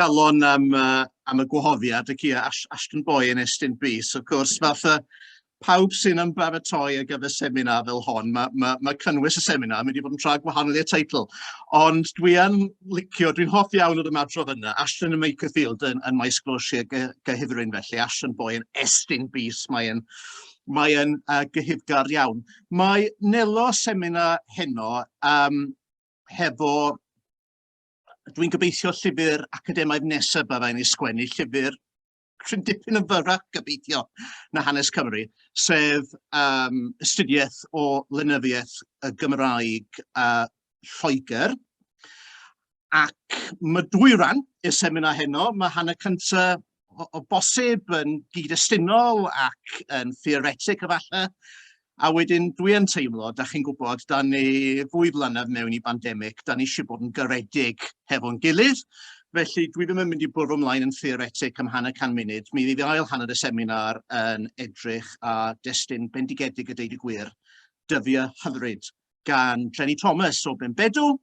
galon am, uh, am y gwahoddiad ac ia, Ashton Boy yn Estyn Bys, wrth gwrs, fatha pawb sy'n ymbaratoi ar gyfer seminar fel hon, mae ma, ma cynnwys y seminar mynd i fod yn tra gwahanol i'r teitl. Ond dwi yn licio, dwi'n hoff iawn o'r ymadrodd yna, Ashton yn Michael Field yn, yn maes glosiau gyhyfryn felly, Ashton Boy yn Estyn Bys, mae'n mae yn uh, gyhyfgar iawn. Mae Nelo seminar heno um, hefo dwi'n gobeithio llyfr academaidd nesaf byddai'n ei sgwennu, llyfr rhyw'n dipyn yn fyrrach gobeithio na hanes Cymru, sef um, ystudiaeth o lenyddiaeth y Gymraeg a uh, Lloegr. Ac mae dwy ran i'r seminar heno, mae hanner cyntaf o, o bosib yn gyd-destunol ac yn theoretic efallai. A wedyn dwi yn teimlo, da chi'n gwybod, da ni fwy blynedd mewn i bandemig, da ni eisiau bod yn garedig hefo'n gilydd, felly dwi ddim yn mynd i bwrw ymlaen yn theoretic am hanner can munud. Mi fydd ail hanner y seminar yn edrych a destun bendigedig y deud y gwir, dyddiau hyfryd gan Jenny Thomas o Benbedw,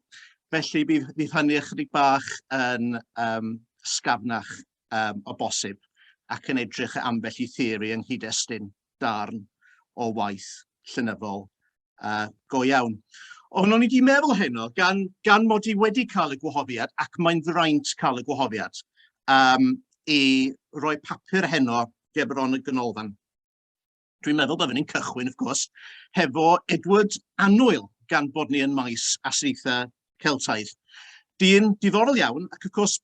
felly bydd, bydd hynny ychydig bach yn um, sgafnach um, o bosib ac yn edrych ambell i theori yng nghyd-destun darn o waith llynyddol uh, go iawn. Ond o'n i wedi meddwl heno, gan, gan mod i wedi cael y gwahoddiad, ac mae'n ddraint cael y gwahoddiad, um, i roi papur heno gerbron y ganolfan. Dwi'n meddwl byddwn ni'n cychwyn, wrth gwrs, hefo Edward Annwyl, gan bod ni yn maes asiaethau Celtaidd. Dyn diddorol iawn, ac wrth gwrs,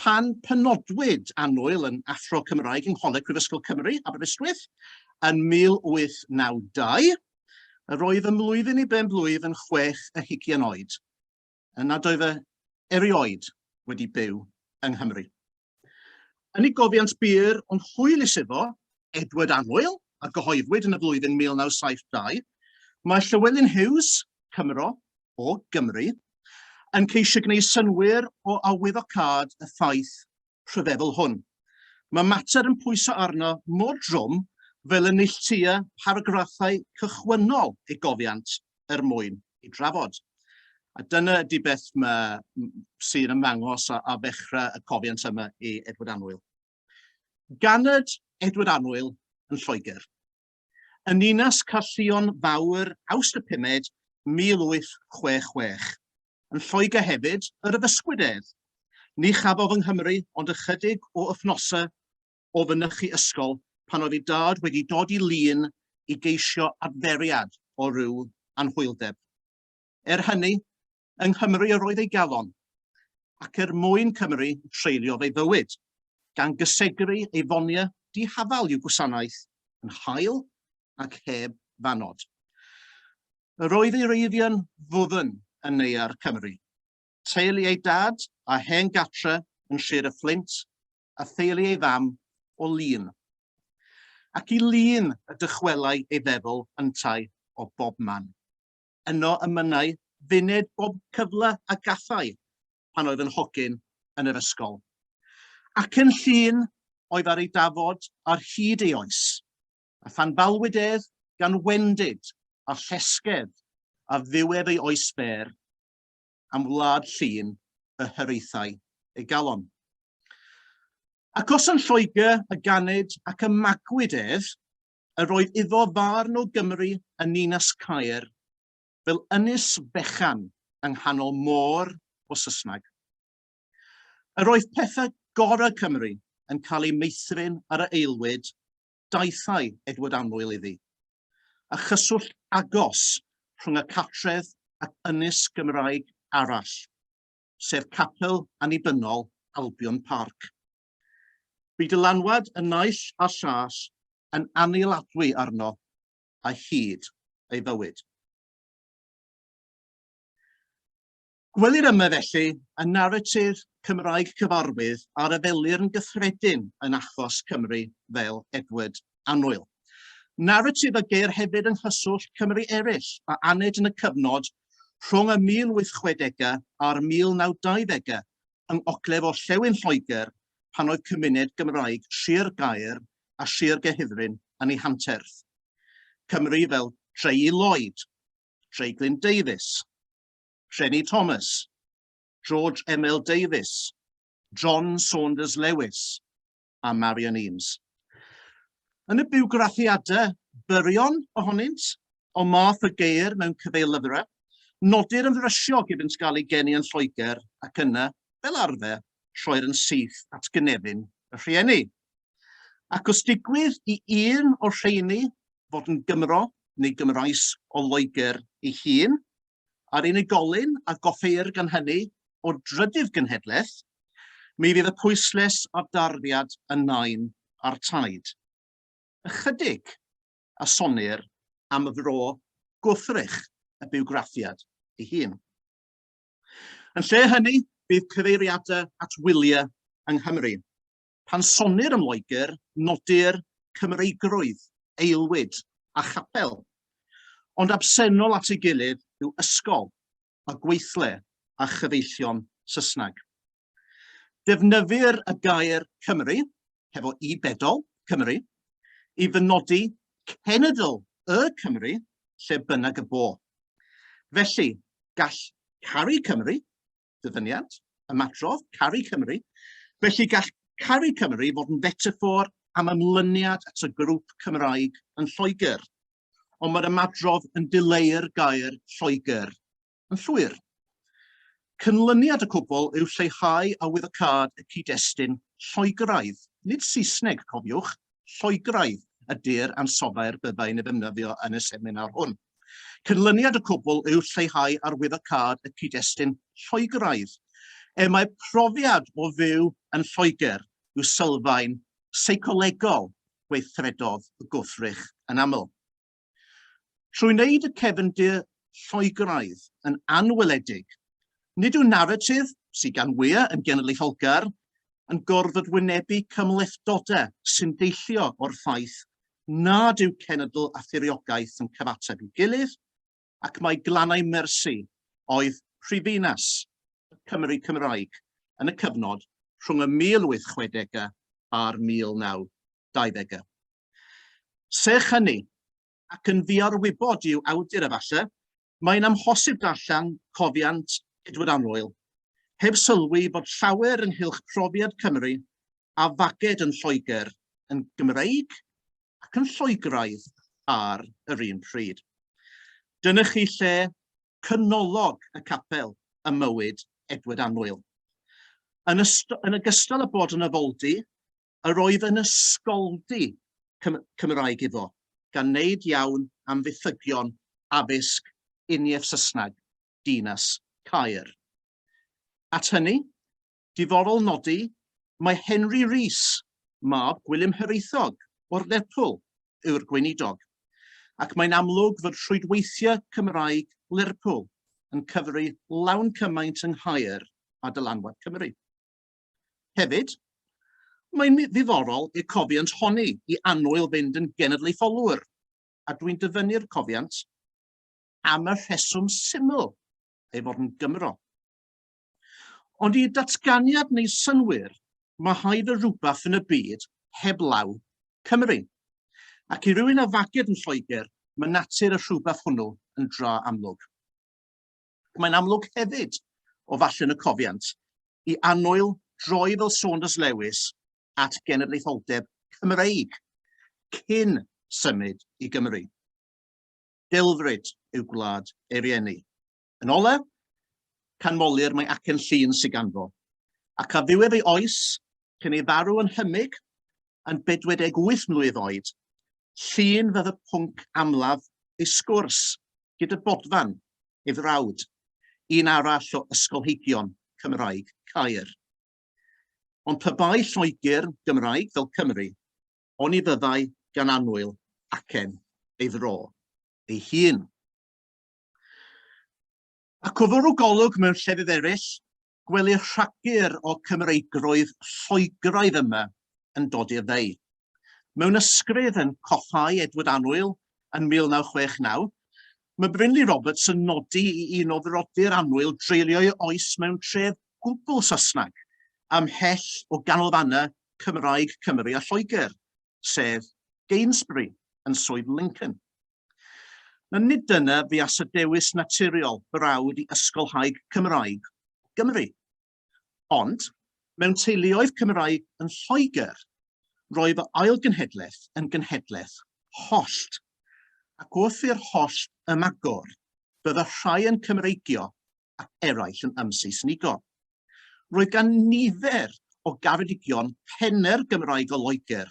pan penodwyd Annwyl yn Athro Cymraeg yng Ngholeg Prifysgol Cymru, Aberystwyth, yn 1892, yr oedd ymlwyddyn i ben blwydd yn chwech a hugian oed. yn nad oedd e erioed wedi byw yng Nghymru. Yn ei gofiant byr ond hwylus iddo, Edward Annwyl, a gyhoeddwyd yn y flwyddyn 1972, mae Llywelyn Hughes, Cymro, o Gymru, yn ceisio gwneud synwyr o awyddocâd y ffaith rhyfeddol hwn. Mae mater yn pwyso arno mor drwm fel y neilltuia paragraffau cychwynnol ei gofiant er mwyn ei drafod. A dyna ydy beth sy'n ymddangos a, a ddechrau y cofiant yma i Edward Anwyl. Ganed Edward Anwyl yn Lloegr. yn ninas Caerllion Fawr, Awst y pumed, 1866. Yn Lloegr hefyd yr addysgwyd ef. Ni chafodd yng Nghymru ond ychydig o wythnosau o fynychu ysgol pan oedd ei dad wedi dod i Lŷn i geisio adferiad o ryw anhwyldeb. Er hynny, Yng Nghymru yr oedd ei galon, ac er mwyn Cymru treuliodd ei fywyd, gan gysegru ei fonia dihafal i'w gwasanaeth yn hael ac heb fannod. Yr oedd ei reiddio'n ddwfn yn neuadd Cymru. Teulu ei dad a hen gatre yn Sir y Fflint, a theulu ei fam o Lŷn. Ac i Lŷn y dychwelai ei feddwl yntau o bobman. Yno y mynnai Vined bob cyfle a gallai pan oedd yn hogyn yn yr ysgol. Ac yn llun oedd ar ei dafod ar hyd ei oes, a phan balwyd ef gan wendid a llesgedd a ddiwedd ei oes fer, am wlad llun y hiraethau ei galon. Ac os yn Lloegr y ganed ac y magwyd ef, Yr oedd iddo farn o Gymru yn ninas Caer fel ynys fechan yng nghanol môr o Sysnag. Yr oedd pethau gorau Cymru yn cael eu meithrin ar y aelwyd, daethai Edward Annwyl iddi, a chyswllt agos rhwng y cartref ac ynys Gymraeg arall, sef Capel Annibynnol Albion Park. Bu dylanwad y naill a'r llall yn annihiladwy arno a hyd ei fywyd. Gwelir yma felly y naratif Cymraeg cyfarwydd a refelir yn gyffredin yn achos Cymru fel Edward Annwyl. Naratif a geir hefyd yng nghyswllt Cymru eraill a aned yn y cyfnod rhwng y 1860au a'r 1920au yng ngogledd-orllewin Lloegr pan oedd cymuned Gymraeg Sir Gaer a Sir Gehifryn yn ei hanterth. Cymry fel Treyi Lloyd, Treiglyn Davies, Rheni Thomas, George Emil Davies, John Saunders Lewis, a Marian Eames. Yn y biwgraffiadau byrion ohonynt, o math y geir mewn cyfeillyfrau, nodir yn frysiog iddynt gael ei geni yn Lloegr ac yna, fel arfer, rhoi'r yn syth at gynefin y rhieni. Ac os digwydd i un o'r rheini fod yn Gymro neu Gymraes o Loegr ei hun, a'r unigolyn a goffeir gan hynny o'r drydydd genhedlaeth, mi fydd y pwyslais a'r darddiad yn nain a'r taid. Ychydig a sonnir am fro gwrthrych y biwgraffiad ei hun. Yn lle hynny, bydd cyfeiriadau at wyliau yng Nghymru, Pan sonnir am Loegr, nodir Cymreigrwydd, aelwyd, a chapel. Ond absennol at ei gilydd yw ysgol, a gweithle, a chyfeillion Saesneg. Defnyddir y gair Cymru, hefo i bedol, Cymru, i fynodi cenedl y Cymru lle bynnag y bo. Felly, gall caru Cymru, ddyfyniad, ymadrodd, caru Cymru. Felly gall caru Cymru fod yn fetafor am ymlyniad at y grŵp Cymraeg yn Lloegr, ond mae'r ymadrodd yn dileu'r gair Lloegr yn llwyr. Cynlyniad y cwbl yw lleihau awyddocâd y cyd-destun Lloegraidd, nid Saesneg, cofiwch, lloegaidd y dur ansoddair byddai'n ei ddefnyddio yn y seminar hwn. Cynlyniad y cwbl yw lleihau arwyddocâd y cyd-destun lloegaidd. Er mae profiad o fyw yn Lloegr yw sylfaen seicolegol gweithredodd y gwrthrych yn aml. Trwy wneud y cefndir Lloegraidd yn anweledig, nid yw naratif, sydd gan wyau yn genedlaetholgar, yn gorfod wynebu cymhlethdodau sy'n deillio o'r ffaith nad yw cenedl a thiriogaeth yn cyfateb i'w gilydd, ac mae Glannau Mersi oedd prifddinas y Cymry Cymraeg yn y cyfnod rhwng y 1860au a'r 1920au. Serch hynny, ac yn ddiarwybod i'w awdur efallai, mae'n amhosib darllen Cofiant Edward Anwyl heb sylwi bod llawer ynghylch profiad Cymru a faged yn Lloegr yn Gymreig ac yn Lloegraidd ar yr un pryd. Dyna chi lle cynolog y capel ym mywyd Edward Anwyl. Yn, yn ogystal â bod yn afoldy, yr oedd yn ysgoldy Cymraeg iddo, gan wneud iawn am fethygion addysg uniaith Saesneg dinas Caer. At hynny, diddorol nodi, mae Henry Rees, mab Gwilym Hiraethog, o'r Lerpwl, yw'r gweinidog, ac mae'n amlwg fod rhwydweithiau Cymraeg Lerpwl yn cyfri lawn cymaint yng Nghaer a dylanwad Cymru. Hefyd, mae'n ddiddorol y cofiant honni i annwyl fynd yn genedlaetholwr, a dwi'n dyfynnu'r cofiant am y rheswm syml ei fod yn Gymro. Ond i datganiad neu synwyr, mae haid o rhywbeth yn y byd heblaw Cymru. Ac i rywun a faged yn Lloegr, mae natur y rhywbeth hwnnw yn dra amlwg. Mae'n amlwg hefyd, o fallen y cofiant, i annwyl droi fel Saunders Lewis at genedlaetholdeb Cymreig cyn symud i Gymru. Delfryd yw gwlad ei rieni. Yn ole, canmolir mae acen llun sy'n ganfo, ac a ddiwedd ei oes cyn ei farw yn hymyg yn 48 mlwydd oed, Llun fydd y pwnc amlaf ei sgwrs gyda Bodfan, ei frawd, un arall o ysgolheigion Cymraeg Caer. Ond pe bai Lloegr Gymraeg fel Cymru, oni fyddai gan annwyl acen ei fro ei hun. Ac o fwrw golwg mewn llefydd eraill, gwelir rhagur o Cymreigrwydd Lloegraidd yma yn dod i'r dde. Mewn ysgrif yn Coffáu Edward Annwyl yn 1969, mae Brinley Roberts yn nodi i un o frodyr Annwyl dreulio'i oes mewn tref gwbl Saesneg, ymhell o ganolfannau Cymraeg Cymru a Lloegr, sef Gainsbury yn Swydd Lincoln. Ond nid dyna fuas y dewis naturiol brawd i ysgolhaig Cymraeg Gymru. Ond, mewn teuluoedd Cymraeg yn Lloegr, roedd fy ail genhedlaeth yn genhedlaeth hollt, ac wrth i'r hollt ymagor, bydda rhai yn Cymreigio ac eraill yn ymseisnigo. Roedd gan nifer o garedigion penne'r Gymraeg o Loegr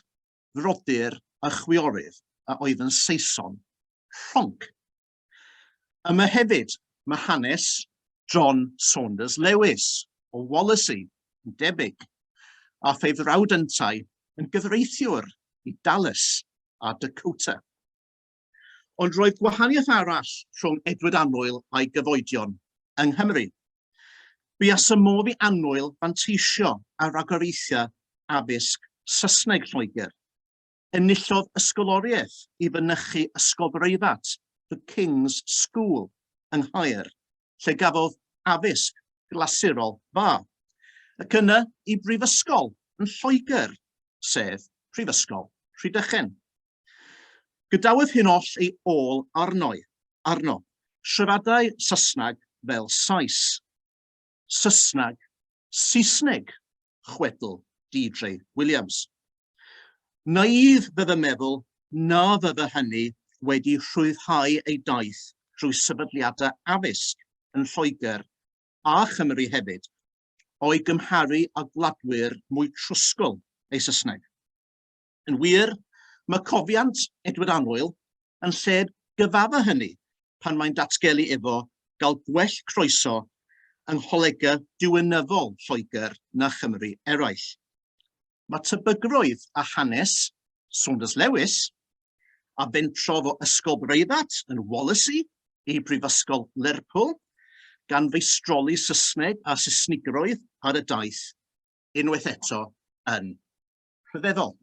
frodyr a chwiorydd a oedd yn Saeson rhonc. Yma hefyd mae hanes John Saunders Lewis o Wallasey yn debyg, a phe frawd yntau yn gyfreithiwr i Dallas a Dakota. Ond roedd gwahaniaeth arall rhwng Edward Annwyl a'i gyfoedion yng Nghymru. Bu a symodd i Annwyl fanteisio ar ragoriaethau addysg Saesneg Lloegr. Enillodd ysgoloriaeth i fynychu ysgol breifat The King's School yng Nghaer, lle gafodd addysg glasurol dda, ac yna i brifysgol yn Lloegr, sef Prifysgol Rhydychen. Gadawyd hyn oll ei ôl arno'i, arno. Siaradai Saesneg fel Sais. Saesneg, Saesneg, chwedl Deirdre Williams. Nai'f fe fy meddwl na fydde hynny wedi rhwyddhau ei daith drwy sefydliadau addysg yn Lloegr a Chymru hefyd, o'i gymharu â gwladwyr mwy trwsgl ei Saesneg. Yn wir, mae cofiant Edward Annwyl yn lled gyfadda hynny pan mae'n datgelu efo gael gwell croeso yng ngholega diwinyddol Lloegr na Chymru eraill. Mae tebygrwydd a hanes Saunders Lewis, a fentrodd o Ysgol Breifat yn Wallasey i Brifysgol Lerpwl, gan feistroli Saesneg a Saesnigrwydd ar y daith, unwaith eto yn rhyfeddol.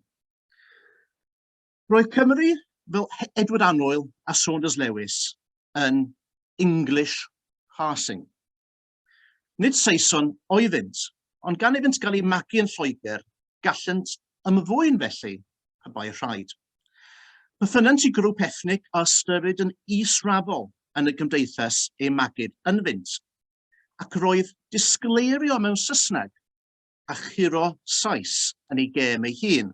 Roedd Cymru fel Edward Anoil a Saunders Lewis yn English passing. Nid Saeson oeddynt, ond gan iddynt gael eu magu yn Lloegr, gallent ymddwyn felly y bai rhaid. Bythynant i grwp ethnig a ystyrid yn israfol yn y gymdeithas ei magid yn fynt, ac roedd disgleirio mewn Saesneg a churo Sais yn ei gêm ei hun,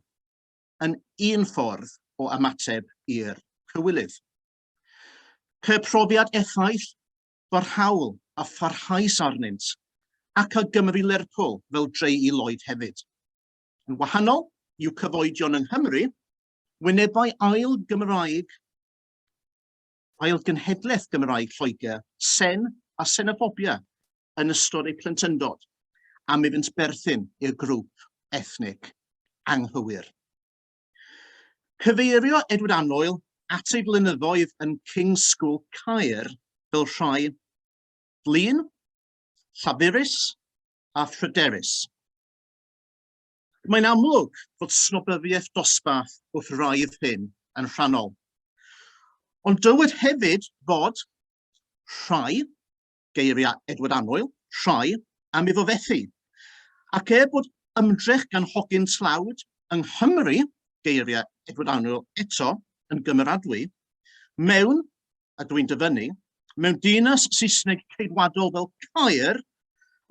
yn un ffordd o ymateb i'r cywilydd. Ceir profiad effaith, barhaol a pharhaus arnynt, ac a Gymru Lerpwl fel dreu i Lloyd hefyd. Yn wahanol i'w cyfoedion yng Nghymru, wynebau ail Gymraeg ail genhedlaeth Gymraeg Lloegr, sen a senoffobia yn ystod eu plentyndod am iddynt berthyn i'r grŵp ethnig anghywir. Cyfeirio Edward Annoil at ei flynyddoedd yn King's School Caer fel rhai flin, llafurus a phryderus. Mae'n amlwg bod snobyfiaeth dosbarth wrth raidd hyn yn rhannol. Ond dywed hefyd fod rhai geiriau Edward Annwyl, rhoi, am iddo fethu. Ac er bod ymdrech gan hogyn tlawd yng Nghymru, geiriau Edward Annwyl eto, yn gymeradwy, mewn, a dwi'n dyfynnu, mewn dinas Saesneg ceidwadol fel Caer,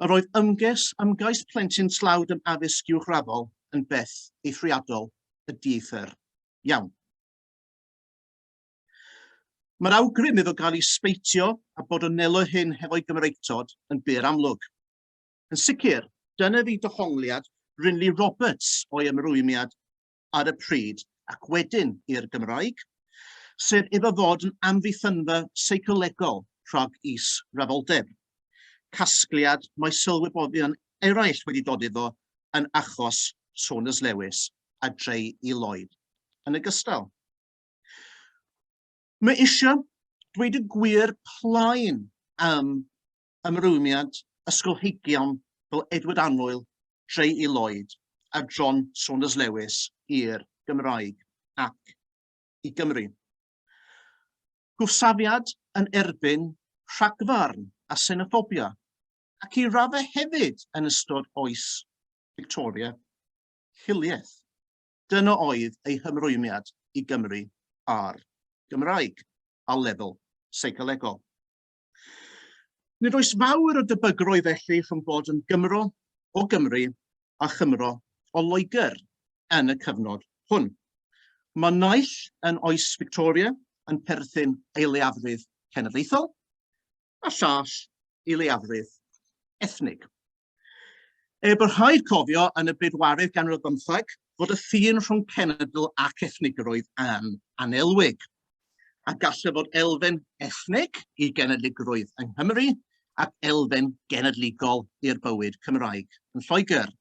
yr oedd ymges, ymgais plentyn tlawd yn addysg uwchraddol yn beth eithriadol y dieithr iawn. Mae'r awgrym iddo gael ei sbeitio a bod o nelo hyn hefo'i Gymreictod yn bur amlwg. Yn sicr, dyna fu dohongliad Brinley Roberts o'i ymrwymiad ar y pryd ac wedyn i'r Gymraeg, sef iddo fod yn amddiffynfa seicolegol rhag is-rafoldeb, casgliad mae sylwebyddion eraill wedi dod iddo yn achos Saunders Lewis a Drei i Lloyd yn ogystal. Mae eisiau dweud y gwir plaen am ymrwymiad ysgolheigion fel Edward Annwyl, Trey E. Lloyd a John Saunders Lewis i'r Gymraeg ac i Gymru. Gwrthsafiad yn erbyn rhagfarn a senoffobia ac i raddau hefyd yn ystod oes Victoria hiliaeth. Dyna oedd ei hymrwymiad i Gymru a'r Gymraeg, a lefel seicolegol. Nid oes fawr o debygrwydd felly rhwng bod yn Gymro o Gymru a Chymro o Loegr yn y cyfnod hwn. Mae naill yn oes Victoria yn perthyn ei leiafrif cenedlaethol, a llall i leiafrif ethnig. Er bod rhaid cofio yn y bedwaredd ganrif bymtheg fod y ffin rhwng cenedl ac ethnigrwydd yn anelwig, a gall y fod elfen ethnig i genedligrwydd yng Nghymru ac elfen genedligol i'r bywyd Cymraeg yn Lloegr.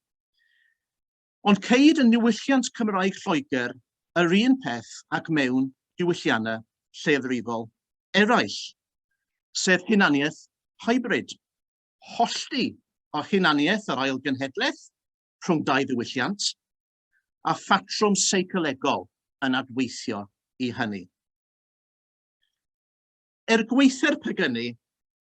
Ond ceir yn niwylliant Cymraeg Lloegr yr un peth ag mewn diwylliannau lleiafrifol eraill, sef hunaniaeth hybrid, hollti o hunaniaeth yr ail genhedlaeth rhwng dau ddiwylliant, a phatrwm seicolegol yn adweithio i hynny. Er gwaetha'r pegynnu,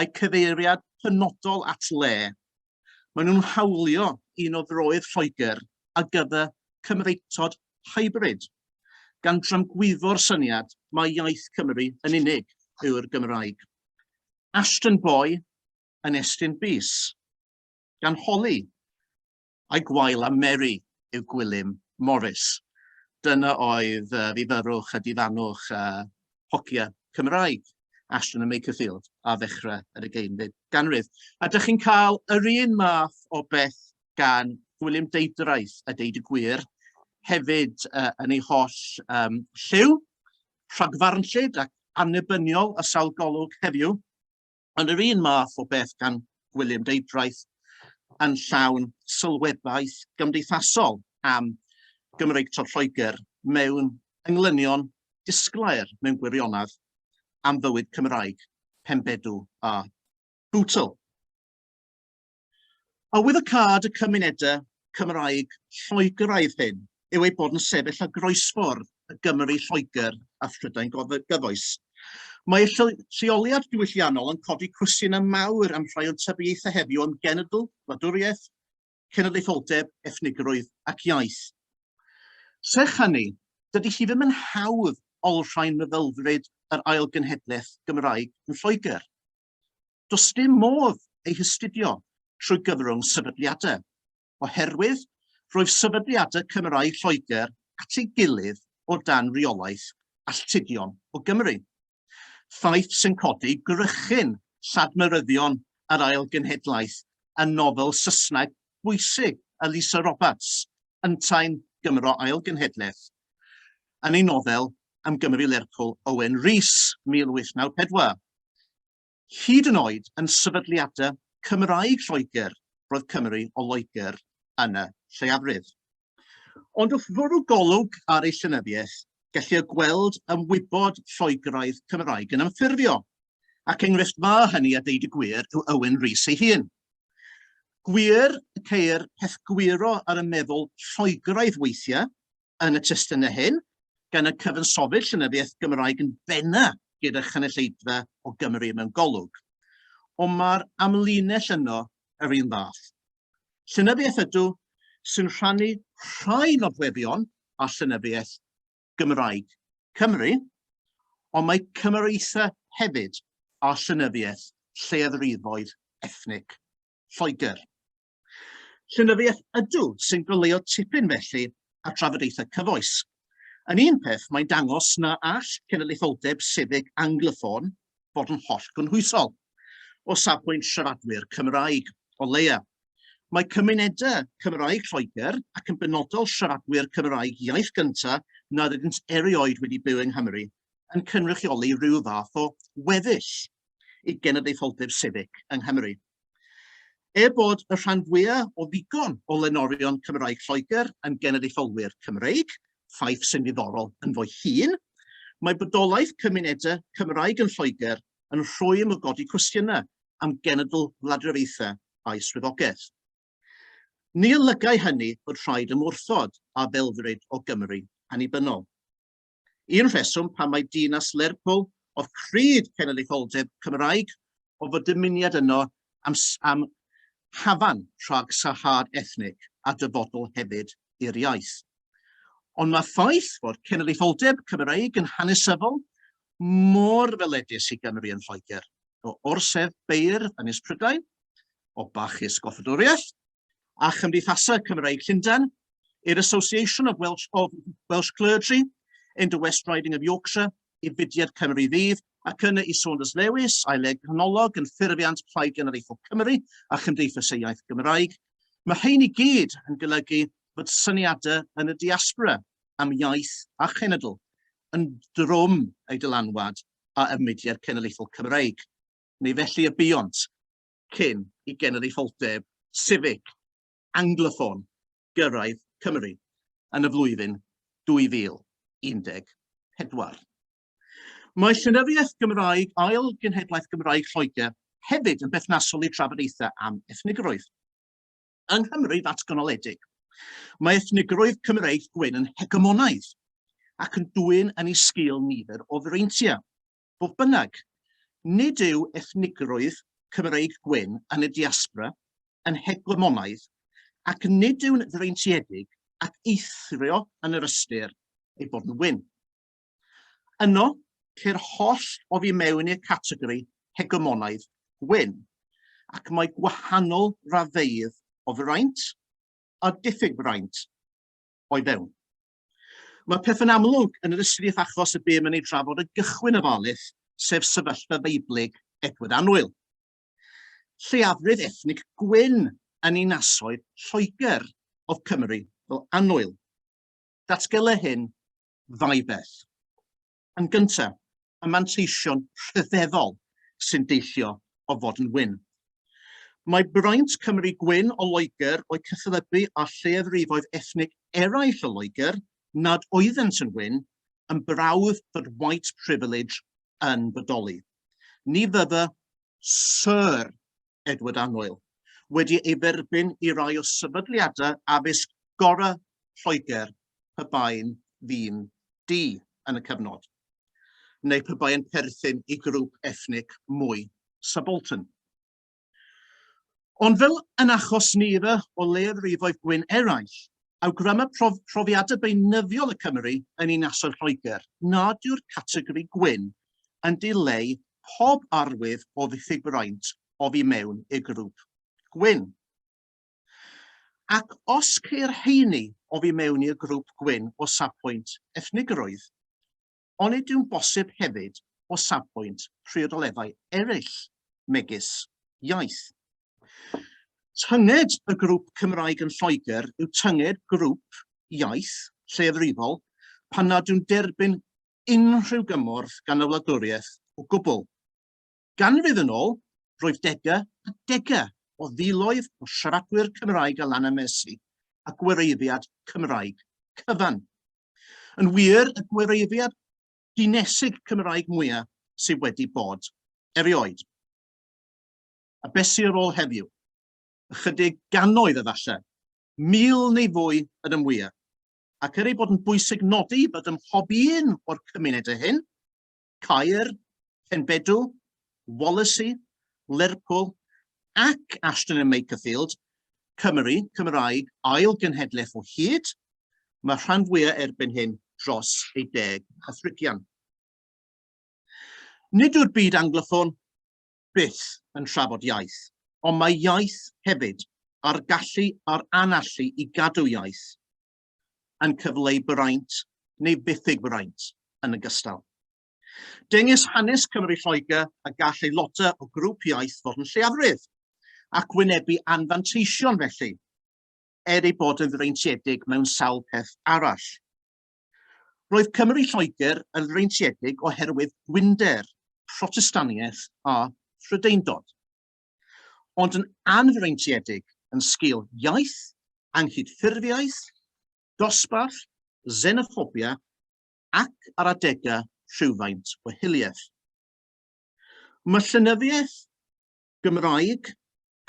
a'u cyfeiriad penodol at le, maen nhw'n hawlio un o froedd Lloegr a gyfer Cymreictod hybrid, gan dramgwyfo'r syniad mai iaith Cymru yn unig yw'r Gymraeg. Ashton Boy yn estyn bys, gan holi a'i gwael am Mary yw Gwilym Morris. Dyna oedd uh, fi fyrwch a difannwch uh, hogia Cymraeg. Ashton a Makerfield a ddechrau yr ugeinfed ganrif. A dych chi'n cael yr un math o beth gan William Deidraeth a deud y gwir, hefyd uh, yn ei holl um, lliw, rhagfarnllyd ac annibyniol a sawl golwg heddiw. Ond yr un math o beth gan Gwilym Deudraeth yn llawn sylwebaeth gymdeithasol am Gymreictod Lloegr mewn englynion disglair mewn gwirionedd am fywyd Cymraeg, Pembedw a Bootle. Arwyddocâd y cymunedau Cymraeg Lloegraidd hyn yw ei bod yn sefyll ar groesffordd y Gymru Lloegr a Phrydain gyfoes. Mae lleoliad diwylliannol yn codi cwestiynau mawr am rhai o'n tybiaethau heddiw am genedl, wladwriaeth, cenedlaetholdeb, ethnigrwydd ac iaith. Serch hynny, dydy hi ddim yn hawdd olrhain meddylfryd yr ail genhedlaeth Gymraeg yn Lloegr. Does dim modd ei hystudio trwy gyfrwng sefydliadau, oherwydd roedd sefydliadau Cymraeg Lloegr at ei gilydd o dan reolaeth alltudion o Gymru, ffaith sy'n codi gwrychyn lladmeryddion yr Ail Genhedlaeth yn nofel Saesneg bwysig Elisa Roberts, Yntau'n Gymro Ail Genhedlaeth, yn ei nofel Am Gymru Lerpwl Owen Rees, 1894. Hyd yn oed yn sefydliadau Cymraeg Lloegr, roedd Cymry o Loegr yn y lleiafrif. Ond wrth fwrw golwg ar ei llenyddiaeth, gellir gweld ymwybod Lloegraidd Cymraeg yn ymffurfio, ac enghraifft dda hynny a deud y gwir yw Owen Rees ei hun. Gwir y ceir peth gwiro ar y meddwl Lloegraidd weithiau, yn y testunau hyn, gan y cyfansoddi'r llenyddiaeth Gymraeg yn benna gyda chynulleidfa o Gymru mewn golwg. Ond mae'r amlinell yno yr un fath. Llenyddiaeth ydw sy'n rhannu rhai nodwebion a llenyddiaeth Gymraeg Cymru, ond mae cymereithau hefyd a llenyddiaeth lleiafrifoedd ethnic Lloegr. Llenyddiaeth ydw sy'n goleuo tipyn felly ar drafodaethau cyfoes. Yn un peth, mae'n dangos na all cenedlaetholdeb sefyg Anglophone fod yn holl gynhwysol, o safbwynt siaradwyr Cymraeg, o leia. Mae cymunedau Cymraeg Lloegr, ac yn benodol siaradwyr Cymraeg iaith gynta nad ydynt erioed wedi byw yng Nghymru, yn cynrychioli rhyw fath o weddill i genedlaetholdeb sefyg yng Nghymru. Er bod y rhan fwyaf o ddigon o lenorion Cymraeg Lloegr yn genedlaetholwyr Cymreig, ffaith sy'n ddiddorol ynddo ei hun, mae bodolaeth cymunedau Cymraeg yn Lloegr yn rhwym o godi cwestiynau am genedl wladwriaethau a'i swyddogaeth. Ni olygai hynny fod rhaid ymwrthod â belfryd o Gymru annibynnol. Un rheswm pam mae dinas Lerpwl o fryd cenedlaetholdeb Cymraeg o fod dymuniad yno am am hafan rhag sarhad ethnig a dyfodol hefyd i'r iaith. Ond mae ffaith fod cenedlaetholdeb Cymraeg yn hanesyddol mor ddyledus i Gymru yn Lloegr, o orsedd beirdd Ynys Prydain, o bachus goffadwriaeth, a Chymdeithasau Cymreig Llundain, i'r Association of Welsh, of Welsh Clergy in the West Riding of Yorkshire, i Fudiad Cymru Fydd, ac yna i Saunders Lewis, aeleg canolog yn ffurfiant Plaid Genedlaethol Cymru a Chymdeithas y Iaith Gymraeg. Mae rhain i gyd yn golygu fod syniadau yn y diaspora am iaith a chenedl yn drwm ei dylanwad a ymwediad cenedlaethol Cymreig, neu felly y buont. cyn i genedlaetholdeb sifig Angloffon gyrraedd Cymru yn y flwyddyn 2014. Mae llenyddiaeth Gymraeg ail genhedlaeth Gymraeg Lloegr hefyd yn berthnasol i drafodaethau am ethnigrwydd. Yng Nghymru ddatganoledig, mae ethnigrwydd Cymreig gwyn yn hegemonaidd ac yn dwyn yn ei sgil nifer o freintiau. Fodd bynnag, nid yw ethnigrwydd Cymreig Gwyn yn y diaspora yn hegemonaidd ac nid yw'n freintiedig ac eithrio yn yr ystyr ei bod yn wyn. Yno, ceir holl oddi mewn i'r categori hegemonaidd gwyn, ac mae gwahanol raddfeydd o fraint a diffyg fraint o'i fewn. Mae pethau'n amlwg yn yr ystrif achos y bum yn ei trafod y gychwyn ofalus, sef sefyllfa Feiblig Edward Annwyl, lleiafrif ethnig gwyn yn ninasoedd Lloegr of Cymru fel Annwyl. Datgela hyn ddau beth. Yn gyntaf, y manteision rhyfeddol sy'n deillio o fod yn wyn. Mae braint Cymry gwyn o Loegr o'u cyfathrebu â lleiafrifoedd ethnig eraill o Loegr nad oeddent yn wyn yn brawf fod white privilege yn bodoli. Ni fyddai Sir Edward Annwyl, wedi ei dderbyn i rai o sefydliadau addysg gorau Lloegr pe baen ddyn du yn y cyfnod, neu pe baen perthyn i grŵp ethnic mwy subaltern. Ond fel yn achos nifer o leiafrifoedd gwyn eraill, awgryma prof profiadau beunyddiol y Cymry yn ninasoedd Lloegr nad yw'r categori gwyn yn dileu pob arwydd o ddiffyg braint oddi mewn i'r grŵp gwyn. Ac os ceir rheiny oddi mewn i'r grŵp gwyn o safbwynt ethnigrwydd, onid yw'n bosib hefyd o safbwynt priodoleddau eraill, megis iaith? Tynged y grŵp Cymraeg yn Lloegr yw tynged grŵp iaith lleiafrifol pan nad yw'n derbyn unrhyw gymorth gan y wladwriaeth o gwbl. Ganrif yn ôl, roedd degau a degau o filoedd o siaradwyr Cymraeg a Lana Mercy a gwireiddiad Cymraeg cyfan. Yn wir, y gwireiddiad dinesig Cymraeg mwyaf sydd wedi bod erioed. A beth sydd ar ôl heddiw? Ychydig gannoedd efallai, mil neu fwy yn y mwyaf. ac er ei bod yn bwysig nodi bod ym mhob un o'r cymunedau hyn, Caer, Penbedw, Wallasey, Lerpwl ac Ashton and Makerfield, Cymru, Cymraeg, ail genhedlaeth o hyd, mae rhan fwyaf erbyn hyn dros ei deg Cathrigian. Nid yw'r byd angloffon byth yn trafod iaith, ond mae iaith hefyd a'r gallu a'r anallu i gadw iaith yn cyfleu braint neu ddiffyg braint yn ogystal. Dengys hanes Cymru Lloegr a gall aelodau o grŵp iaith fod yn lleiafrif ac wynebu anfanteision felly, er ei bod yn freintiedig mewn sawl peth arall. Roedd Cymry Lloegr yn freintiedig oherwydd gwynder, Protestaniaeth a Phrydeindod, ond yn anfreintiedig yn sgil iaith, anghydffurfiaeth, dosbarth, xenophobia ac ar adegau rhywfaint o hiliaeth. Mae llenyddiaeth Gymraeg,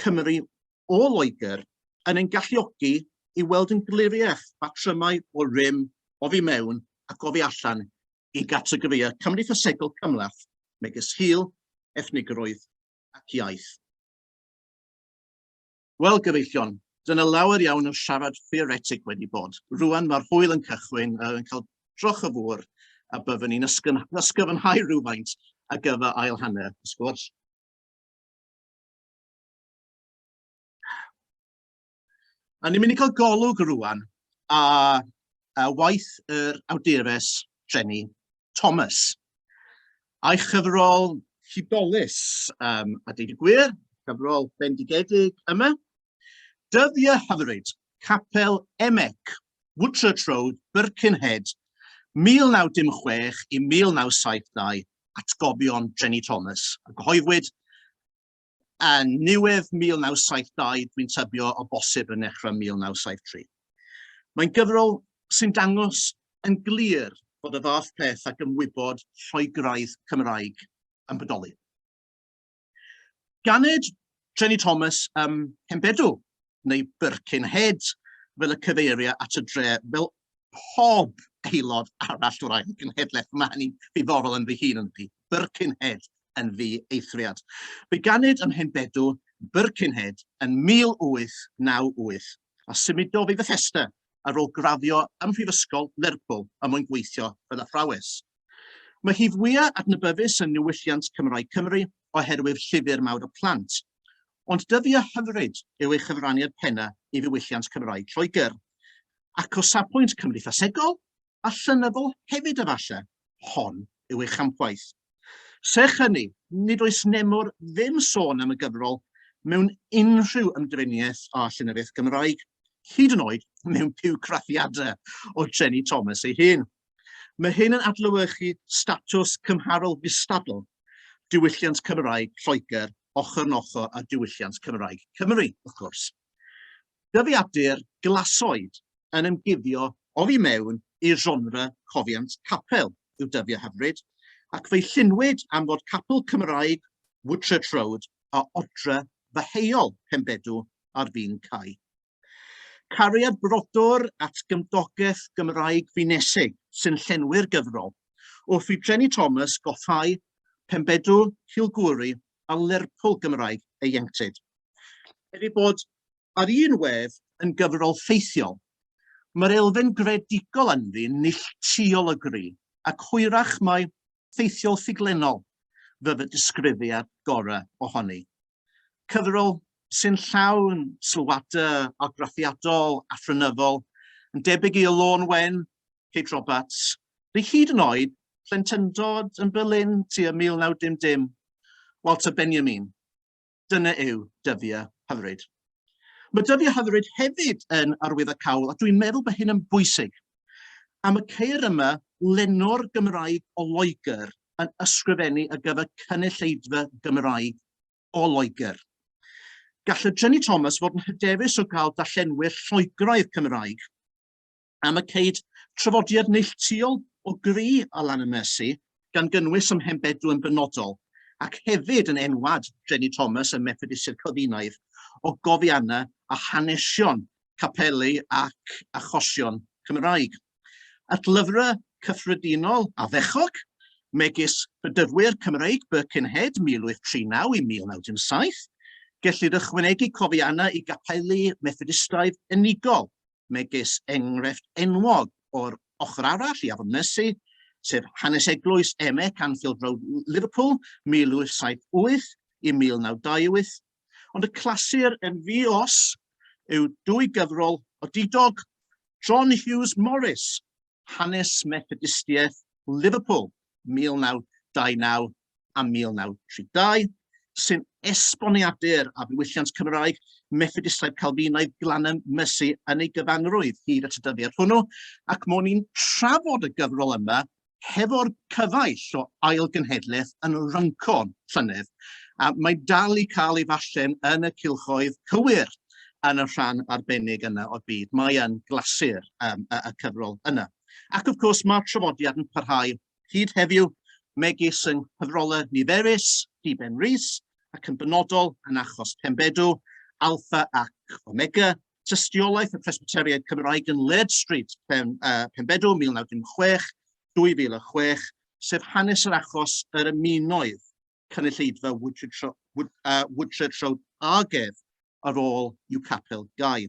Cymry o Loegr yn ein galluogi i weld yn gliriach patrymau o rym oddi mewn ac oddi allan i gategorïau cymdeithasegol cymhleth megis hil, ethnigrwydd ac iaith. Wel, gyfeillion, dyna lawer iawn o siarad theoretig wedi bod. Rwan mae'r hwyl yn cychwyn, uh, yn cael troch y fwr, a byddwn ni'n ysgyfnhau rhywfaint ar gyfer ail hanner y sgwrs. A ni'n mynd i cael golwg rwan a, a waith yr awdures Jenny Thomas a'i chyfrol hudolus um, a dweud y gwir, cyfrol bendigedig yma, Dyddiau hyfryd, Capel Emec, Woodchurch Road, Birkenhead, 1916 i 1972, Atgofion Jenny Thomas. A gyhoeddwyd yn niwedd 1972, dwi'n tybio o bosib yn nechrau 1973. Mae'n gyfrol sy'n dangos yn glir bod y fath peth ac ymwybod rhoi graidd Cymraeg yn bodoli. Ganed Jenny Thomas ym Mhenbedw, neu Birkenhead, fel y cyfeiria at y dre, fel pob aelod arall o'r ail genhedlaeth. Mae hynny'n ddiddorol yn fy hun yn fi. Birkenhead yn fi eithriad. Fe ganed ym Mhenbedw, Birkenhead, yn 1898. a symudodd i Fethesda ar ôl graddio ym Mhrifysgol Lerpwl er mwyn gweithio fel athrawes. Mae hi fwyaf adnabyddus yn niwylliant Cymraeg Cymru oherwydd llyfr mawr y plant, ond dyddiau hyfryd yw ei chyfraniad pennaf i ddiwylliant Cymraeg Lloegr, ac o safbwynt cymdeithasegol, a llenyddol hefyd efallai, hon yw ei champwaith. Serch hynny, nid oes nemor ddim sôn am y gyfrol mewn unrhyw ymdriniaeth â llenyddiaeth Gymraeg, hyd yn oed mewn piwcrathiadau o Jenny Thomas ei hun. Mae hyn yn adlewyrchu statws cymharol gystadl diwylliant Cymraeg Lloegr ochr yn ochr â diwylliant Cymraeg Cymru, wrth gwrs. Dyddiadur glasoed yn ymguddio oddi mewn i genre cofiant capel yw Dyfio Hyfryd, ac fe'i lluniwyd am fod capel Cymraeg Woodchurch Road a odre ddeheuol Penbedw ar fin cau. Cariad brodor at gymdogaeth Gymraeg Finesig sy'n llenwi'r gyfrol, wrth i Jenny Thomas goffáu Penbedw, Cilgwri a Lerpwl Gymraeg ieuenctid. Er ei bod ar un wedd yn gyfrol ffeithiol, mae'r elfen greadigol ynddi'n neilltuol o gry, ac hwyrach mai ffeithiol ffuglennol fydd y disgrifiad gorau ohoni. Cyfrol sy'n llawn sylwadau argraffiadol a phrynyddol, yn debyg i Y Lôn Wen, Kate Roberts, neu hyd yn oed plentyndod yn Berlin tua 1910, Walter Benjamin. Dyna yw dyddiau hyfryd. Mae dyddiau hyfryd hefyd yn arwyddo cawl, a dwi'n meddwl bod hyn yn bwysig. Am y ceir yma, lenor Gymraeg o Loegr yn ysgrifennu ar gyfer cynulleidfa Gymraeg o Loegr. Gall y Jenny Thomas fod yn hyderus o gael darllenwyr Lloegraidd Cymraeg. am y ceid trafodiad neilltuol o gri ar lan y Mersey, gan gynnwys ym Mhenbedw yn benodol, ac hefyd yn enwad Jenny Thomas ym Methodistiaid Calfinaidd o gofianna a hanesion capeli ac achosion Cymraeg. At lyfrau cyffredinol a fechog, megis Rhyddfwyr Cymreig Birkenhead 1839 i 1917, gellid ychwanegu cofianna i gapeli Methodistiaid unigol megis enghraifft enwog o'r ochr arall i Afon Mersi, sef hanes eglwys Emek, Anfield Road, Liverpool, 1878 i 1928, ond y clasur yn ddi-os yw dwy gyfrol odidog John Hughes Morris, Hanes Methodistiaeth Liverpool 1929 a 1932, sy'n esboniadur a ddiwylliant Cymraeg Methodistaidd Calfinaidd Glanham Mercy yn ei gyfanrwydd hyd at y dyddiad hwnnw, ac mwyn i'n trafod y gyfrol yma hefo'r cyfaill o ail genhedlaeth yn Runcorn llynedd, a mae dal i cael ei fallen yn y cylchoedd cywir. yn y rhan arbennig yna o'r byd. Mae yn glasur um, y, y cyfrol yna. Ac wrth gwrs mae'r trafodiad yn parhau hyd heddiw megis yng nghyfrolau niferus Diben Rhys ac yn benodol yn achos Pembedw, Alpha ac Omega, tystiolaeth y Presbyteriaid Cymraeg yn Led Street, Pen, uh, Pembedw 1916, 2006, sef hanes yr achos yr ymunoedd cynulleidfa Woodchurch Road Argef ar ôl i'w capel gau.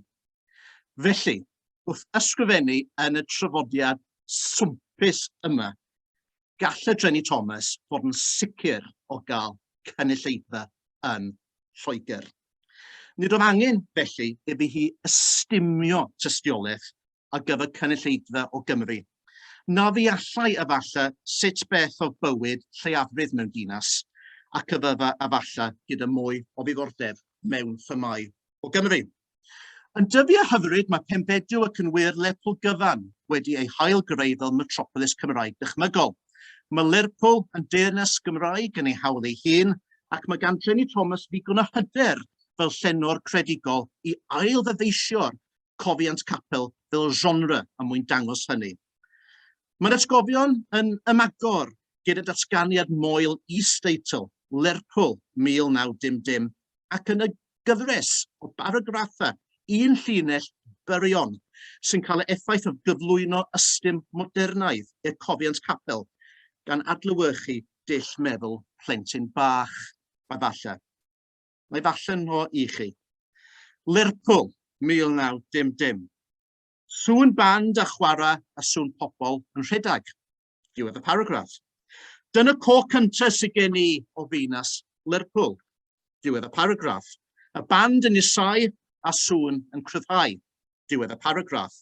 Felly, wrth ysgrifennu yn y trafodiad swmpus yma, gall y Dreni Thomas fod yn sicr o gael cynulleidfa yn Lloegr. Nid oedd angen, felly, iddi hi ystumio tystiolaeth ar gyfer cynulleidfa o Gymru. Na ddeallai efalle sut beth oedd bywyd lleiafrif mewn dinas, ac y bydda efalle gyda mwy o ddiddordeb mewn themâu o Gymru. Yn dyddiau hyfryd mae Penfedyw ac yn wir Lerpwl gyfan wedi ei hail greu fel metropolis Cymraeg dychmygol. Mae Lerpwl yn deyrnas Gymraeg yn ei hawl ei hun ac mae gan Jenny Thomas ddigon o hyder fel llenor credigol i ail-ddyfeisio'r cofiant capel fel genre er mwyn dangos hynny. Mae'r atgofion yn ymagor gyda datganiad moel is-deitl Lerpwl 1910 ac yn y gyfres o baragraffau un llinell byrion sy'n cael ei effaith o gyflwyno ystum modernaidd i'r cofiant capel gan adlewyrchu dull meddwl plentyn bach, a falle. Mae falle nhw i chi. Lerpwl, 1910. Sŵn band a chwara a sŵn pobl yn rhedeg. Diwedd y paragraff. Dyna co cyntaf sydd gen i o Feinas Lerpwl. Diwedd y paragraff. Y band yn isau a sŵn yn cryfhau. diwedd y paragraff.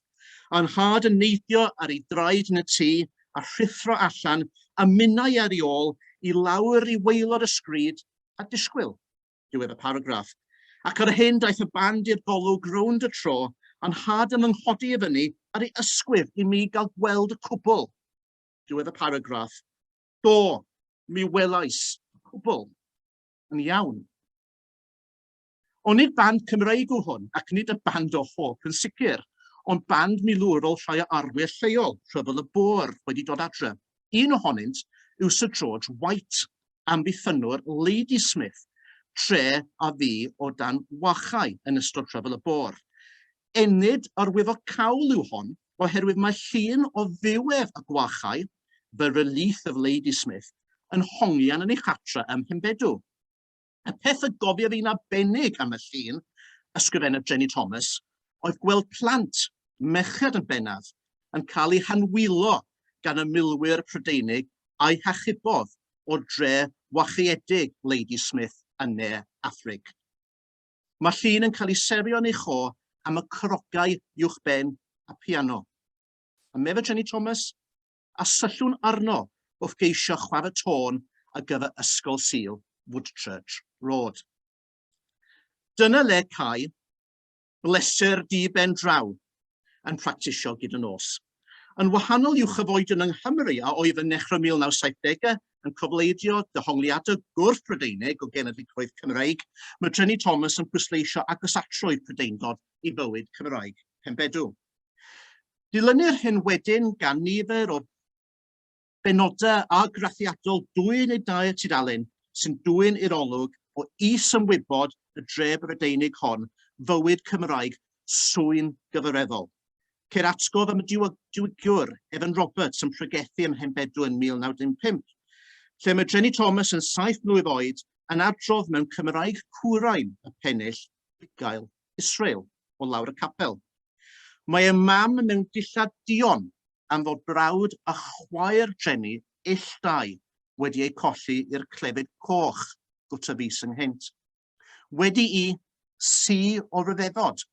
A nhad yn neidio ar ei draed yn y tŷ a rhuthro allan a minnau ar ei ôl i lawr i waelod y sgrid a disgwyl, diwedd y paragraff. Ac ar hyn daeth y band i'r golwg rownd y tro a nhad yn ynghodi i fyny ar ei ysgwydd i mi gael gweld y cwbl, diwedd y paragraff. Do, mi welais y cwbl. Yn iawn. Onid band Cymreig yw hwn, ac nid y band o Hope yn sicr, ond band milwrol rhai o arwyr lleol, Rhyfel y Boer, wedi dod adre. Un ohonynt yw Sir George White, amddiffynnwr Ladysmith, tre a fu o dan wachau yn ystod Rhyfel y Boer. Enid yr wyf o cawl yw hon, oherwydd mae llun o ddiwedd y gwachau, The Relief of Ladysmith, yn hongian yn ei chartre ym Mhenbedw. Y peth y gofiaf i'n arbennig am y llun, ysgrifennodd Jenny Thomas, oedd gweld plant, merched yn bennaf, yn cael eu hanwylo gan y milwyr Prydeinig a'i hachubodd o'r dre wachiedig Lady Smith yn Ne Affrig. Mae llun yn cael ei serio yn ei cho am y crogau uwchben a piano. A meddwl Jenny Thomas, a syllwn arno wrth geisio chwarae tôn ar gyfer Ysgol Sul Woodchurch Road. Dyna le cae bleser di ben draw yn practisio gyd y nos. Yn wahanol i'w chyfoedion yng Nghymru a oedd yn nechrau 1970au yn cofleidio dehongliadau gwrth Brydeinig o genedligrwydd Cymreig, mae Trenni Thomas yn pwysleisio agosatrwydd Prydeindod i fywyd Cymraeg Penbedw. Dilynir hyn wedyn gan nifer o benodau argraffiadol dwy neu dair tudalen sy'n dwyn i'r olwg o is-ymwybod y dref Brydeinig hon fywyd Cymraeg swyn gyfareddol. Ceir atgof am y diwygiwr Evan Roberts yn pregethu ym Mhenbedw yn 1915, lle mae Dreni Thomas yn saith mlwydd oed yn adrodd mewn Cymraeg curain y pennill bugail Israel o lawr y capel. Mae y mam mewn dillad duon am fod brawd a chwaer Jenny ill dau wedi eu colli i'r clefyd coch gwta fis ynghynt. Wedi i si o ryfeddod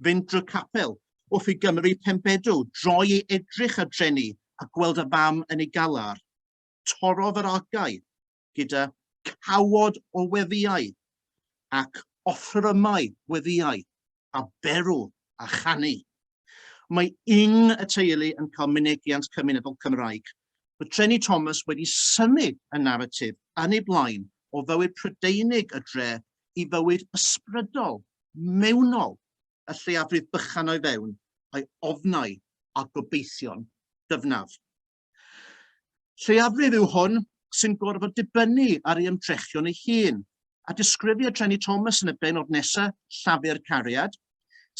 fynd drwy capel wrth i Gymru Penbedw droi i edrych ar Jenny a gweld y fam yn ei galar, torrodd yr algau gyda cawod o weddïau ac offrymau gweddïau a berw a chanu. Mae yng y teulu yn cael mynegiant cymunedol Cymraeg. Mae Treni Thomas wedi synnu y naratif yn ei blaen o fywyd Prydeinig y dre i fywyd ysbrydol, mewnol, y lleiafrif bychan o'i fewn, a'i ofnau a gobeithion dyfnaf. Lleiafrif yw hwn sy'n gorfod dibynnu ar ei ymdrechion ei hun, a disgrifia Trenny Thomas yn y benod nesaf, Llafur Cariad,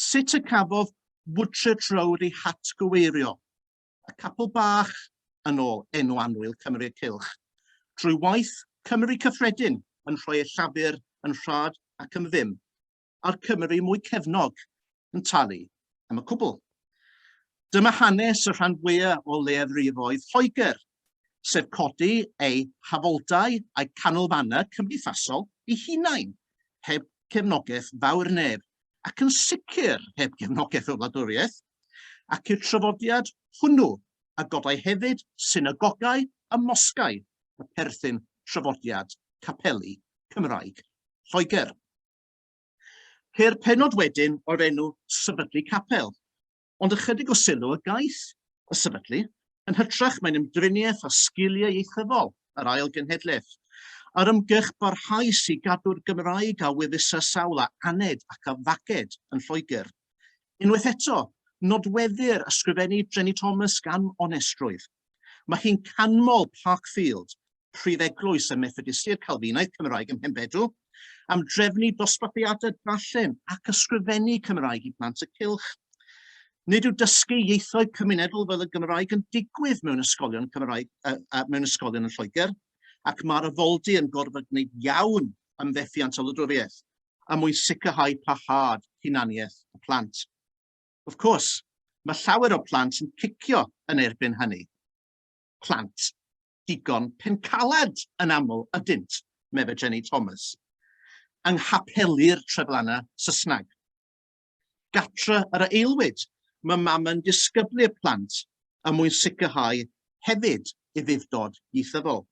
sut y cafodd Woodchurch Road ei hatgyweirio, y capel bach, yn ôl enw annwyl Cymru y Cylch, drwy waith Cymru Cyffredin yn rhoi ei llafur yn rhad ac yn ddim. a'r Cymry mwy cefnog yn talu am y cwbl. Dyma hanes y rhan fwyaf o leiafrifoedd Lloegr, sef codi eu hafoldau a'i canolfannau cymdeithasol i hunain, heb gefnogaeth fawr neb, ac yn sicr heb gefnogaeth y wladwriaeth, ac i'r trafodiad hwnnw a godai hefyd synagogau a mosgau y perthyn trafodiad capeli Cymraeg Lloegr. Ceir penod wedyn o'r enw sefydlu capel, ond ychydig o sylw y gaiff y sefydlu, yn hytrach mae'n ymdriniaeth â sgiliau ieithyddol yr ail genhedlaeth, a'r ymgyrch barhaus i gadw'r Gymraeg a weddisa sawl a aned ac a faged yn Lloegr. Unwaith eto, nodweddir ysgrifennu Dreni Thomas gan onestrwydd. Mae hi'n canmol Parkfield, prif eglwys y Methodistiaid Calfinaidd Cymraeg ym Mhenbedw, am drefnu dosbarthiadau darllen ac ysgrifennu Cymraeg i blant y cylch. Nid yw dysgu ieithoedd cymunedol fel y Gymraeg yn digwydd mewn ysgolion Cymraeg uh, uh, mewn ysgolion yn Lloegr, ac mae'r afoldy yn gorfod gwneud iawn am fethiant o lydwriaeth a mwyn sicrhau parhad hunaniaeth y plant. Of course, mae llawer o plant yn cicio yn erbyn hynny. Plant digon pencaled yn aml ydynt, meddai Jenny Thomas, yng nghapelu'r Treflanna Saesneg. Gatre yr aelwyd, mae mam yn disgyblu'r plant er mwyn sicrhau hefyd ei ddyfdod ieithyddol.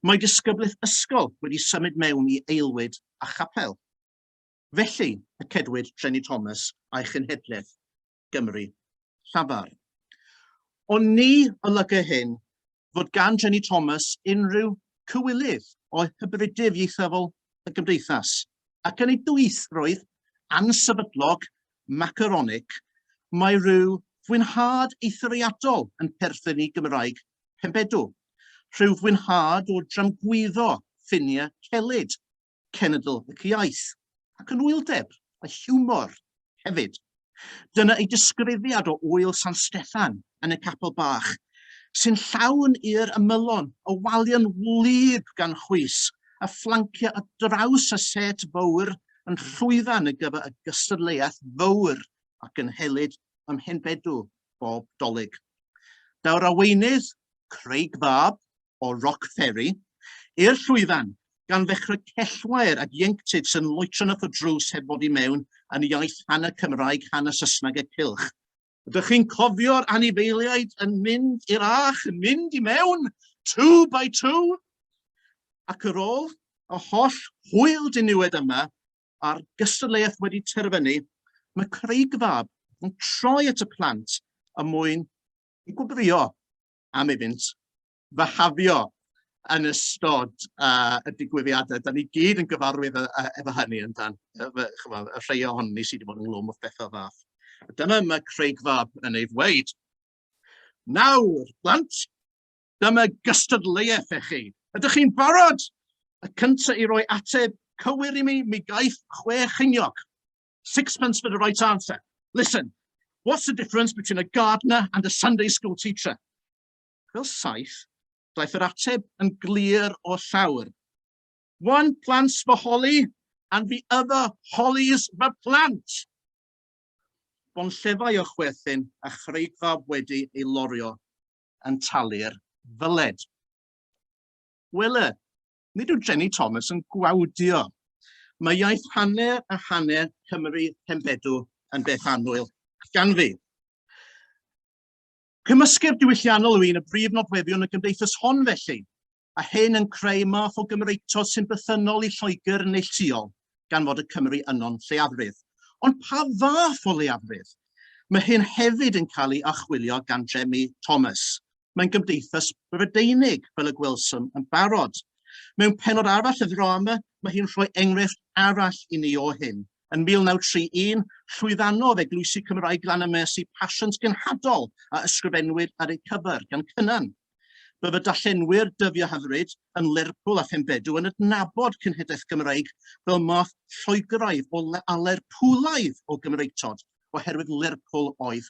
Mae disgyblaeth ysgol wedi symud mewn i aelwyd a chapel. Felly, y cedwid Treni Thomas a'i chenhedlaeth Gymru llafar. Ond ni olygu hyn fod gan Treni Thomas unrhyw cywilydd o hybridydd ieithyddol y gymdeithas, ac yn ei dwythrwydd ansefydlog macaronig, mae rhyw fwynhad eithriadol yn perthyn i Gymraeg Penbedw, rhyw fwynhad o dramgwyddo ffiniau celyd cenedl ac iaith, ac yn wyldeb a hiwmor hefyd. Dyna ei disgrifiad o Ŵyl San Steffan yn y Capel Bach, sy'n llawn i'r ymylon o waliau'n wlyb gan chwys a fflancio ar draws y set fawr yn llwyfan ar gyfer y gystadleuaeth fawr a gynhelid ym Mhenbedw bob Dolig. Daw'r arweinydd, Craig Fab, o Rock Ferry i'r llwyfan, gan ddechrau cellwair ac ieuenctid sy'n loetron at y drws heb fod i mewn yn iaith hanner Cymraeg, hanner Saesneg a cylch. Ydych chi'n cofio'r anifeiliaid yn mynd i'r âch, yn mynd i mewn, two by two? Ac yr ôl y holl hwyl diniwed yma, a'r gystadleuaeth wedi terfynu, mae Craig Fab yn troi at y plant y mwyn i gwbrio am iddynt fihafio yn ystod uh, y digwyddiadau. Da ni gyd yn gyfarwydd efo hynny yn dan, chymod, y rhai ohon ni sydd wedi bod yn glwm o bethau fath. Dyma mae Craig Fab yn ei ddweud. Nawr, blant, dyma gystadleuaeth eich chi. Ydych chi'n barod? Y cyntaf i roi ateb cywir i mi, mi gaeth chwe chyniog. Sixpence for the right answer. Listen, what's the difference between a gardener and a Sunday school teacher? Fel saith, daeth yr ateb yn glir o llawr. One plants for holly and the other hollies for plant. Bon llefau o chwerthin a chreigfa wedi ei lorio yn talu'r fyled. Wele, Nid yw Jenny Thomas yn gwawdio. Mae iaith hanner a hanner Cymru Henfedw yn beth annwyl gan fi. Cymysgedd diwylliannol yw un y brif nodweddion y gymdeithas hon felly, a hyn yn creu math o Gymreicto sy'n bythynnol i Lloegr neilltuol, gan fod y Cymry yno'n lleiafrif. Ond pa fath o leiafrif? Mae hyn hefyd yn cael ei achwilio gan Jenny Thomas. mae'n gymdeithas Brydeinig, fel y gwelsom yn barod. Mewn penod arall y ddrama, mae hi'n rhoi enghraifft arall i ni o hyn. Yn 1931, llwyddanodd Eglwysi Cymraeg Glanymys i pasiant genhadol a ysgrifennwyd ar eu cyfer gan Cynan. Bydd y dallenwyr dyddio hyfryd yn Lerpwl a Phembedw yn adnabod cynhedaeth Gymraeg fel math Lloegraidd o a Lerpwlaidd o Gymreictod, oherwydd Lerpwl oedd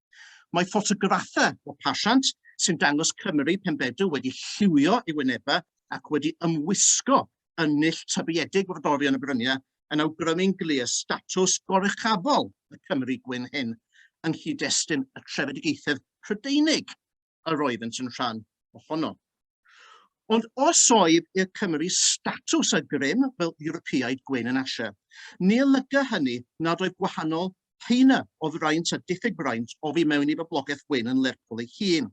Mae ffotograffau o pasiant sy'n dangos Cymry Penbedw wedi lliwio ei wynebau ac wedi ymwisgo yn null tybiedig frodorion y bryniau yn awgrymu'n glir statws goruchafol y Cymry gwyn hyn yng nghyd-destun y trefedigaethau Prydeinig. yr oeddent yn rhan ohono. Ond os oedd i'r Cymru statws a grym fel Ewropeaid Gwen yn Asia, ni olyga hynny nad oedd gwahanol heina o fraint a diffyg braint o fi mewn i boblogaeth Gwen yn Lerpwl ei hun.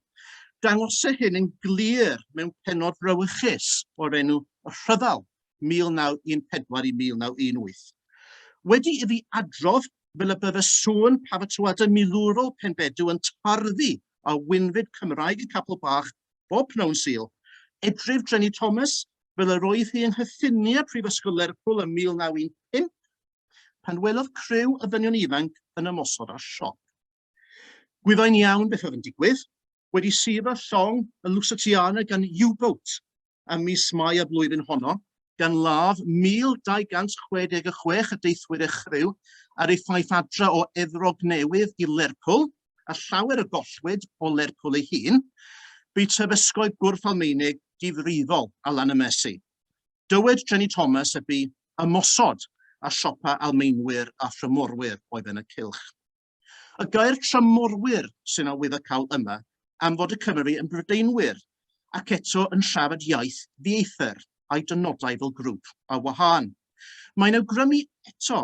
Dangose hyn yn glir mewn penod brawychus o'r enw y Rhyfel 1914 i 1918. Wedi i fi adrodd fel y bydd y sŵn pafatoada milwrol Penbedw yn tarddu a winfyd Cymraeg y Capel Bach bob pnawn Sul, edryf Dreni Thomas fel yr oedd hi yng nghyffiniau Prifysgol Lerpwl ym 1915, pan welodd criw o ddynion ifanc yn ymosod ar siop. Gwyddai'n iawn beth oedd yn digwydd, wedi suro llong y Lusatiana gan U-boat, ym mis Mai y flwyddyn honno, gan ladd 1,266 o deithwyr a chriw ar eu ffaith adre o Efrog Newydd i Lerpwl, a llawer y gollwyd o Lerpwl ei hun, bu terfysgoedd gwrth Almaenig difrifol ar lan y Mersey. Dywed Jenny Thomas y bu ymosod ar siopa Almaenwyr a thrymorwyr oedd yn y cylch. Y gair tramorwyr sy'n awydd y cawl yma am fod y Cymry yn Brydeinwyr ac eto yn siarad iaith ddieithr a'i dynodau fel grŵp a wahân. Mae'n awgrymu eto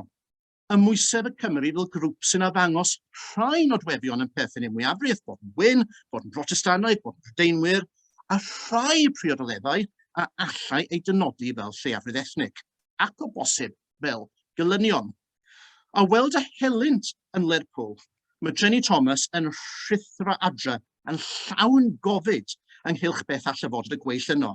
y mwysedd y Cymry fel grŵp sy'n addangos rhai nodweddion yn perthyn i'r mwyafrif, bod yn wyn, bod yn Brotestannaidd, bod yn Brydeinwyr, a rhai priodoleddau a allai ei dynodi fel lleiafrif ethnig, ac o bosib fel gelynion A weld y helynt yn Lerpwl, mae Jenny Thomas yn rhuthro adre yn llawn gofid ynghylch beth all y fod y gweill yno.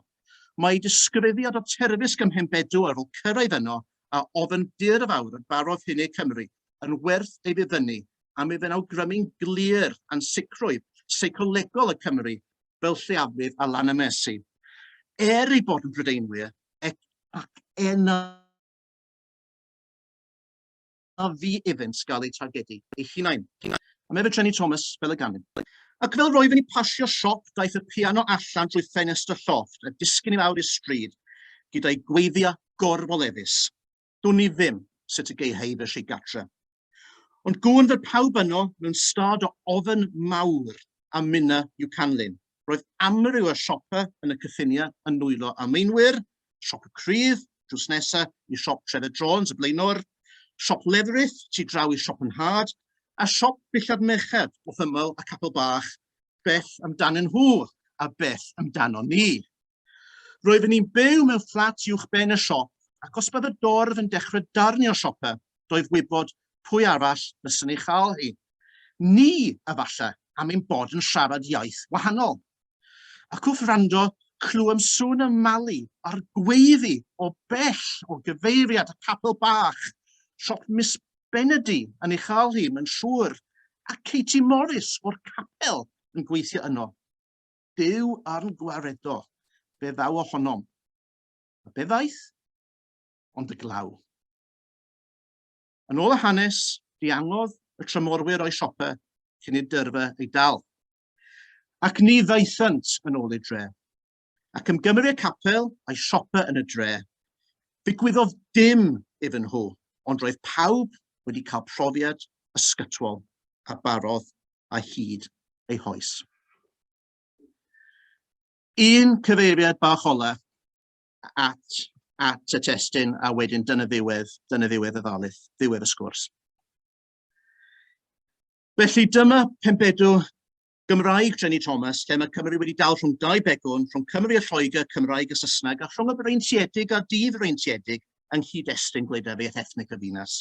Mae ei disgrifiad o Terfysg ym Mhenbedwar fel cyrraedd yno a ofn dur fawr yn barodd hyn eu Cymru yn werth ei ddifynnu a mi fe'n awgrymu'n glir ansicrwydd seicolegol y Cymry fel lleiafrif a Lanamesi. Er ei bod yn Brydeinwyr, ac enau a fu iddynt gael eu targedu eu hunain. Mae fe trenu Thomas fel y ganyn. Ac fel roedd yn i pasio siop daeth y piano allan drwy ffenest y llofft a disgyn i lawr i'r stryd gyda'i gweiddiau gorfoleddus. Dwn i ddim sut y gei-hei fy rhig gatre. Ond gŵn fel pawb yno mewn stad o ofn mawr a minna i'w canlyn. Roedd amryw o siopa yn y cyffinia yn nwylo â meinwyr, Siop y Crudd, drws nesa i siop Trevor Jones y blaenor, siop Leatherith tu draw i siop yn nhad, a siop billad merched wrth ymyl y Capel Bach, beth amdanyn nhw a beth amdanon ni? Roeddwn i'n byw mewn fflat uwch ben y siop, ac os bydd y dorf yn dechrau darnio siopa, doedd wybod pwy arall fyswn ei chael hi. Ni, efallai, am ein bod yn siarad iaith wahanol. Ac wrth rando, clywem sŵn y mali a'r gweiddi o bell o gyfeiriad y capel bach, siop Miss Benedy yn ei chael hi, mae'n siŵr, a Katie Morris o'r capel yn gweithio yno. Duw arn gwaredo, fe ddaw ohonom. A be ddaeth? Ond y glaw. Yn ôl y hanes, diangodd y trymorwyr o'i siopa cyn i dyrfa ei dal. Ac ni ddaethant yn ôl i'r dre. Ac am gymru y capel a'i siopa yn y dre, Ddigwyddodd dim iddyn nhw, ond roedd pawb wedi cael profiad ysgytwol a barodd a hyd ei hoes. Un cyfeiriad bach ola at, at y testyn a wedyn dyna ddiwedd, dyna ddiwedd y ddalydd, ddiwedd y sgwrs. Felly dyma pembedw Gymraeg Jenny Thomas, lle mae Cymru wedi dal rhwng dau begwn, rhwng Cymru a Lloegr, Cymraeg a Saesneg, a rhwng y breintiedig a'r dydd freintiedig, yng nghyd-destun gwleidyddiaeth ethnig y ddinas.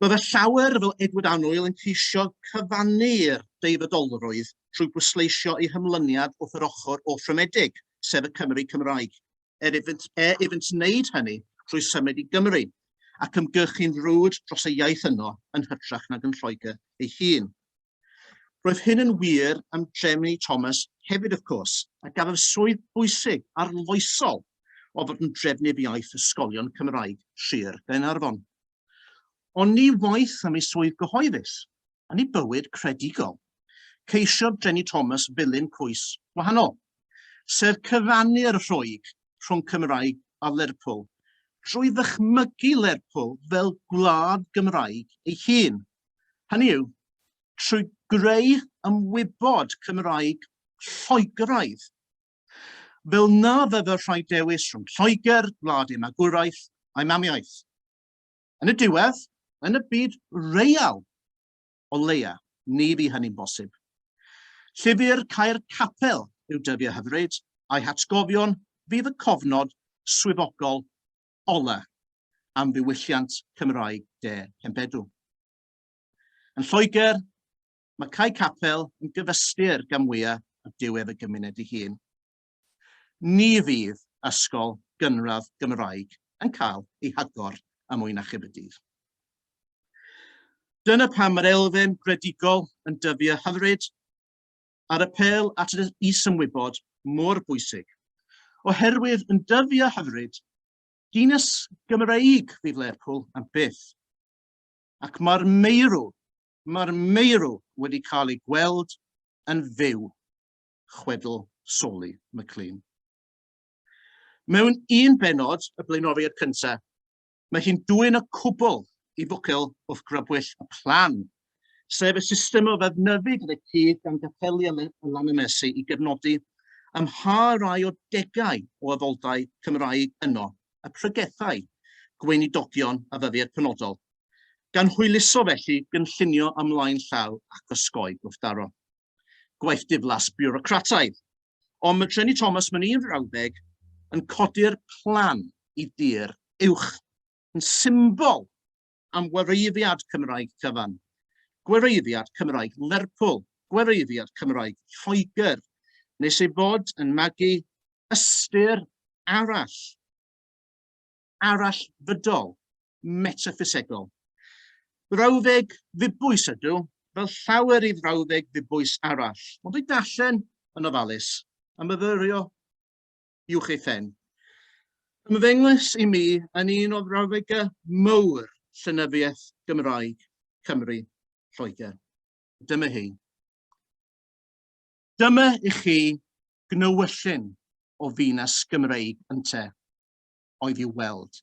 Mae fy llawer fel Edward Annwyl yn ceisio cyfannu'r deifydolrwydd trwy bwysleisio ei hymlyniad wrth yr ochr offrymedig, sef y Cymry Cymraeg, er iddynt, er iddynt wneud hynny trwy symud i Gymru ac ymgyrchu'n frwd dros y iaith yno yn hytrach nag yn Lloegr ei hun. Roedd hyn yn wir am Jeremy Thomas hefyd wrth cwrs, a gafodd swydd bwysig, arloesol, o fod yn drefnydd iaith ysgolion Cymraeg Sir Gaernarfon. Ond ni waith am ei swydd gyhoeddus, yn ei bywyd credigol, ceisiodd Jenny Thomas ddilyn cwys wahanol, sef cyfannu'r rhwyg rhwng Cymraeg a Lerpwl, drwy ddychmygu Lerpwl fel gwlad Gymraeg ei hun, Hynny yw, trwy greu ymwybod Cymraeg Lloegaidd. Fel na fyddai'r rhai dewis rhwng Lloegr, gwlad ei magwraeth a'i mamiaith. Yn y diwedd, yn y byd real, o leia, ni fu hynny'n bosib. Llyfr Caer Capel yw dyddiau hyfryd, a'i hatgofion fydd y cofnod swyddogol ola am ddiwylliant Cymraeg De Cembedw. Yn Lloegr, mae Cae Capel yn gyfystyr gan mwyaf a diwedd y gymuned ei hun. Ni fydd ysgol gynradd Gymraeg yn cael ei hagor am mwy na chyb y dydd. Dyna pam mae'r elfen gredigol yn dyfu a hyfryd, a'r apêl at yr isymwybod mor bwysig. Oherwydd yn dyfu a hyfryd, dinas Gymreig fydd Lerpwl am byth. Ac mae'r meirw, mae'r meirw wedi cael ei gweld yn fyw, chwedl Soli McLean. Mewn un benod y blaenoriaid cyntaf, Mae hi'n dwyn y cwbl i fwcel wrth grybwyll y plan, sef y system o ddefnyddu gyda cudd gan gapeli a lanymesi i gefnodi ym mha rai o degau o addoldai Cymraeg yno y pregethai gweinidogion a ddyddiad penodol, gan hwyluso felly gynllunio ymlaen llaw ac osgoi gwrthdaro. Gwaith diflas biwrocrataidd. Ond mae Treni Thomas, mae'n un frawddeg, yn codi'r plan i dir uwch, yn symbol am wreiddiad Cymraeg cyfan, gwereiddiad Cymraeg Lerpwl, gwereiddiad Cymraeg Lloegr, nes ei bod yn magu ystyr arall, arall fydol metaffisegol. Brawddeg ddibwys ydw, fel llawer i frawddeg ddibwys arall. Ond dwi'n darllen yn ofalus, a myfyrio i'w ei phen. Ymddengys i mi yn un o frawddegau mowr llenyddiaeth Gymraeg Cymru Lloegr. Dyma hi. Dyma i chi gnywyllyn o ddinas Gymreig ynte, oedd i'w weld.